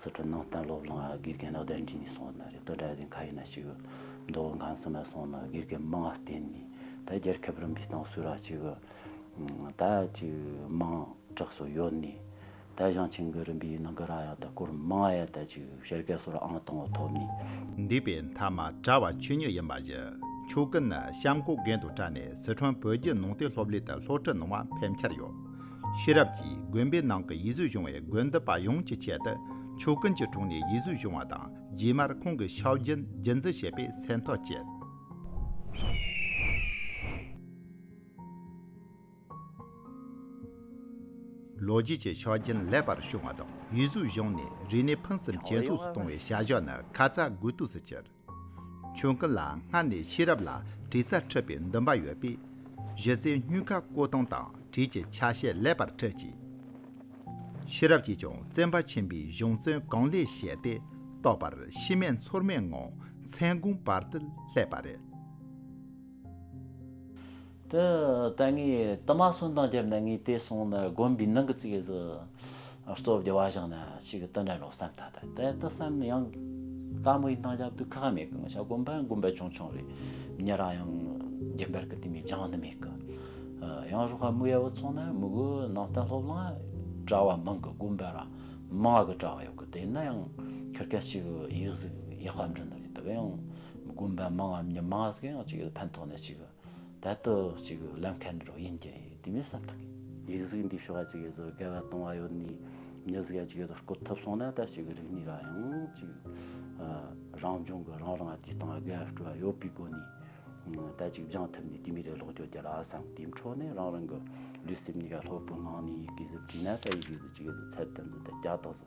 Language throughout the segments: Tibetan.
སི་ཁྲོན་ནང་བསྟན་སློབ་གླིང་ལ་དགེ་རྒན་ལག་བསྟར་གྱིན་སོང་ན་རེད་དོ་གྲྭ་བཞིན་ཁ་ཡིན་ན་ཞིག་འདོག་གང་སྲིད་ན་སོང་ན་དགེ་རྒན་མང་བསྟེན་ནས་ད་རྒྱལ་ཁབ་རིམ་པའི་ཏང་སྲོལ་ར་གཅིག་ད་ཅིག་མང་དྲགས་སུ་ཡོད་ནས་ད་ཞང་ཆེན་གི་རིམ་པའི་ནང་གི་ར་ཡང་ད་སྐོར་མང་ཡ་ད་ཅིག་བཤད་ག་སོར་ཨང་དང་བོ་ཐོབ་ནས། འདས་པའི་མཐའ་མ་གྲྭ་བ་ཆོས་ཉོས་ཡིན་པ་བཞི་ཆོས་ཀུན་ནི་གཤམ་སྐོར་རྒན་དུ་བཀྲ་ནས་སི་ཁྲོན་བོད་རྒྱུད་ནང་བསྟན་སློབ་གླིང་དུ་སློབ་ཁྲིད་གནང་བ་ཕལ་ཆེར་ཡོད། ཤེས་རབ་ཀྱིས་དགོན་པའི་ནང་གི་ཡིད་གཟོས་བྱུང་བའི་དགོན་འདི་པ་ཡོངས་ཀྱི་ཆེད་དུ་ཆོས་ཀུན་གྱི་དྲུང་ནས་ཡིད་གཟོས་བྱུང་བ་དང་རྗེས་མར་ཁོང་གི་ཤའོ་རྒྱན་རྒྱུན་འཛིན་བྱེད་པའི་སེམས་ཐག་བཅད། ལོ་རྒྱུས་ཀྱི་ཆ་རྐྱེན་ལེགས་པར་བྱུང་བ་དང་ཡིད་གཟོས་བྱུང་ནས་རིག་གནས་ཕུན་སུམ་ཇེ་ཚོགས་སུ་གཏོང་བའི་བྱ་གཞག་ནི་ཁ་ཚ་དགོས་གཏུགས་སུ་གྱུར། ཁྱོད་ལ་སྔར་ནས་ཤེས་རབ་ལ་དྲི་ཚ་འཁྲབ་པའི་འདུན་པ་ཡོད་པས། གཞི་རྩའི་སྙུན་ཁ་བརྐོ་སྟངས་དང་དྲིས་ཀྱི་ཆ་ཤས་ལེགས་པར་འཁྲིད་ཅིག། ཤེས་རབ་ཀྱིས་ཀྱང་བཙན་པ་ཆེན་པོའི་གཞུང་བཙོན་གང་ལས་བཞེས་ཏེ་རྟོགས་པར་ཤི་རྨས་མཚོར་མེད་ངང་མཚན་གུང་བར་དུ་སླེབས་པ་རེད། དེ་ལྟ་ངས་དུ་མ་སོན་དང་བརྒྱབ་ནས་ངས་དེ་སོང་ནས་དགོན་པའི་ནང་གི་ཚིག་གཟུ་གཙོ་བདེ་བ་བཞག་ནས་ཕྱིས་ཀྱི་དུ་འདྲ་ལོ་བསམ་ཐ་དད་དེ་ལྟ་བསམ་ནས་ཡང་དཀར་མོ་ཡི་སྣང་རྒྱབ་ཏུ་ཁ་ཁ་མེད་གི་ང་ཤ་དགོན་པའི་དགོན་པའི་ཆུང་ཆུང་རེད་ཉེ་རང་ཡང་རྒན་པར་གི་དེ་མི་སྦྱང་ནི་མེད་གི། ཡང་རོགས་ཧ་མུ་ཡ་བུ་ཚོང་ནས་མུ་གུ་ནང་བསྟན་སློབ་གླིང་གྲྭ་བ་མང་གི་དགོན་པའི་རང་མང་གི་གྲྭ་བ་ཡོད་གི་དེ་ནི་ཡང་ཁྱོད་ཁ་ཅིག་ཡིག་གཟུགས་ཡག་པ་འབྲི་ནི་རེད་དེ་བས་ཡང་དགོན་པའི་མང་ངམ་མི་མང་ཟིག་ཡང་ཅིག་ཕན་ཐོག་ནས་ཅིག་ད་དུ་ཅིག་བླ་མཁན་འདི་རུ་ཡིན་གྱི་དེ་མི་བསམ་ཐག་གི། ཡིག་གཟུགས་འདི་ཤོག་ཅིག་གཟོ་དགའ་བ་གཏོང་བ་ཡོད་ནི་མི་གཟིགས་ཡ་ཅིག་གཟོ་བསྐོ་ཐུབ་སོང་ན་ད་ཅིག་རིག་ནི་ར་ཡང་ཅིག་རང་བྱུང་གི་རང་རང་དུས་སྟངས་དགའ་སྤྲོ་བ་ཡོད་པའི་སྒོ་ནི་ད་ཅིག་སྦྱང་ཐུབ་ནི་དེ་མི་རེ་ལོག་རྒྱོ་རྒྱ་ལ་བསམ་དེའི་འཕྲོ་ནི་རང་རང་གི་ལུས་སེམས་གཉིས་ཀ་ལྷོད་པོའི་ངང་ནི་ཡིག་གཟུགས་བྲིས་ན་ད་ཡིག་གཟུགས་ཅིག་གཟོ་ཚད་དུ་འཛུལ་ད་རྒྱ་དག་བཟོ།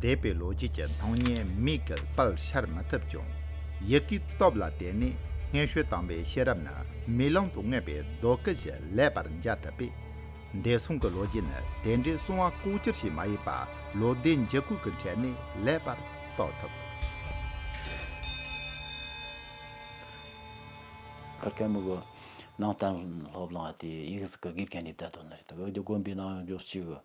འདས་པའི་ལོ་རྒྱུས་ཀྱི་སྣང་བརྙན་མིག་གི་ལྟག་ཤར་མ་ཐུབ་ཀྱང། ཡིད་ཀྱི་སྟོབས་ལ་བརྟེན་ནས་སྔས་ཤོད་དྭངས་པའི་ཤེས་རབ་ནི་མིག་ལམ་དུ་མངོན་པའི་རྡོ་སྐུ་བཞིན་ལེགས་པར་མཇལ་ཐུབ་པས། འདས་སོང་གི་ལོ་རྒྱུས་ནི་དེ་འདྲའི་སྲུང་བ་ལྐོག་གྱུར་ཞིག་མ་ཡིན་པ་ལོ་ཟླའི་འགྱུར་ཁུག་གི་གྲལ་ནས་ལེགས་པར་རྟོགས་ཐུབ། ཁར་ཁལ་མུག་གི་ནང་གཏན་སློབ་བླངས་པ་དེ་ཡིག་གཟུགས་ཀྱི་དགེ་རྒན་གྱི་དད་དོན་ནི་རེད་དེ། འོད་དེ་དགོན་པའི་ནང་ཡོང་རྒྱུར་ཅི་དགོས།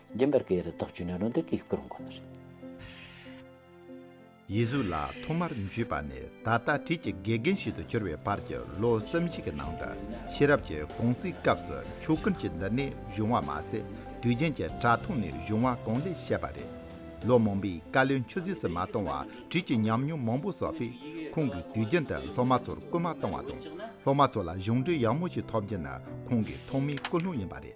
རྒྱན་པར་གའི་རི་དྭགས་བཅུ་ནི་རོ་འདེབས་ཀྱི་སྐུ་རུ་འགོད་ནི་རེད། ཡིད་གཟུགས་ལ་ཐོག་མར་འཇུས་པ་ནས་ད་ལྟ་བྲིས་ཀྱི་དགེ་རྒན་ཞིག་ཏུ་གྱུར་བའི་བར་གྱི་ལོ་བསམ་བཞི་གི་ནང་དུ་ཤེས་རབ་ཀྱི་གོང་ཚིག་སྐབས་སུ་ཆོས་ཀུན་གྱི་འདི་ནས་བྱུང་བ་མ་ཟད་དུས་རྒྱན་གྱི་དྲ་ཐོག་ནས་བྱུང་བ་གང་ལེགས་བཤད་པ་རེད། ལོ་མང་པོའི་བཀའ་ལས་ཆུད་ཟོས་སུ་མ་བཏང་བར་བྲིས་ཀྱི་ཉམས་མྱོང་མང་པོ་བསགས་པས་ཁོང་གིས་དུས་རྒྱན་དུ་སློབ་མ་ཚོར་སྐུལ་མ་བཏང་བ་དང་སློབ་མ་ཚོ་ལ་གཞུང་འབྲེལ་ཡག་མོ་ཞིག་ཐོབ་རྒྱུ་ནི་ཁོང་གི་ཐོག་མའི་ཀུན་སློང་ཡིན་པ་རེད།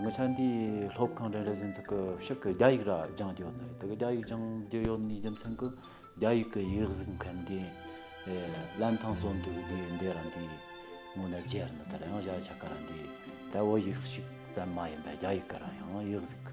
ངོ་ཚ་འདི་སློབ་ཁང་རེ་རེ་ཟིན་ཚུགས་ཀྱི་ཕྱོགས་ཀྱི་རྒྱ་ཡིག་ར་སྦྱང་རྒྱུ་ཡོད་རེད་དེ་རྒྱ་ཡིག་སྦྱང་རྒྱུ་ཡོད་ནི་རྒྱུ་མཚན་གྱི་རྒྱ་ཡིག་གི་ཡིག་གཟུགས་མཁན་དེ་བླན་ཐང་སོ་འདུག་དེ་འདི་རང་དེ་ངོ་ནས་རྒྱས་རེད་ད་རེང་བཞག་ཆ་ག་རང་དེ་ད་འོ་ཡིག་ཞིག་ཙམ་མ་ཡིན་པ་རྒྱ་ཡིག་གི་རང་ཡང་ཡིག་གཟུགས་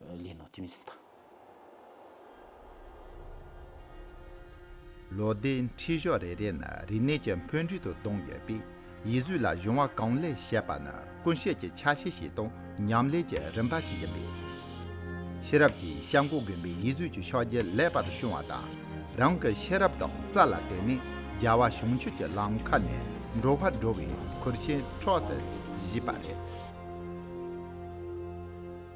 ལས་ནོར་ཐིམ་ཟིན་དང། ལོ་ཟླའི་འཁྲིད་ཕྱོགས་རེ་རེ་ན་རིག་གནས་ཀྱི་འཕོ་འགྱུར་དུ་གདོང་ཡོད་པས་ཡིད་གཟུགས་ལ་གཞུང་བ་གང་ལེགས་བཤད་པ་ནི་ཀུན་བཤད་ཀྱི་ཆ་ཤས་ཤིག་དང་ཉམས་ལེན་གྱི་རིམ་པ་ཞིག་ཡིན་པས། ཤེས་རབ་ཀྱིས་བཤད་མགོ་བསྒོམས་པའི་ཡིད་གཟུགས་ཀྱི་ཕྱོགས་རྒྱས་ལེགས་པར་ཤོང་བ་དང། རང་གི་ཤེས་རབ་དང་རྩལ་ལ་བརྟེན་ནས་རྒྱལ་བ་བྱང་ཆུབ་ཀྱི་ལམ་ཁ་ནས་འགྲོ་བར་འགྲོ་བའི་ཁུར་ཆེན་འཕྲོག་ཏུ་བཞེས་པ་རེད།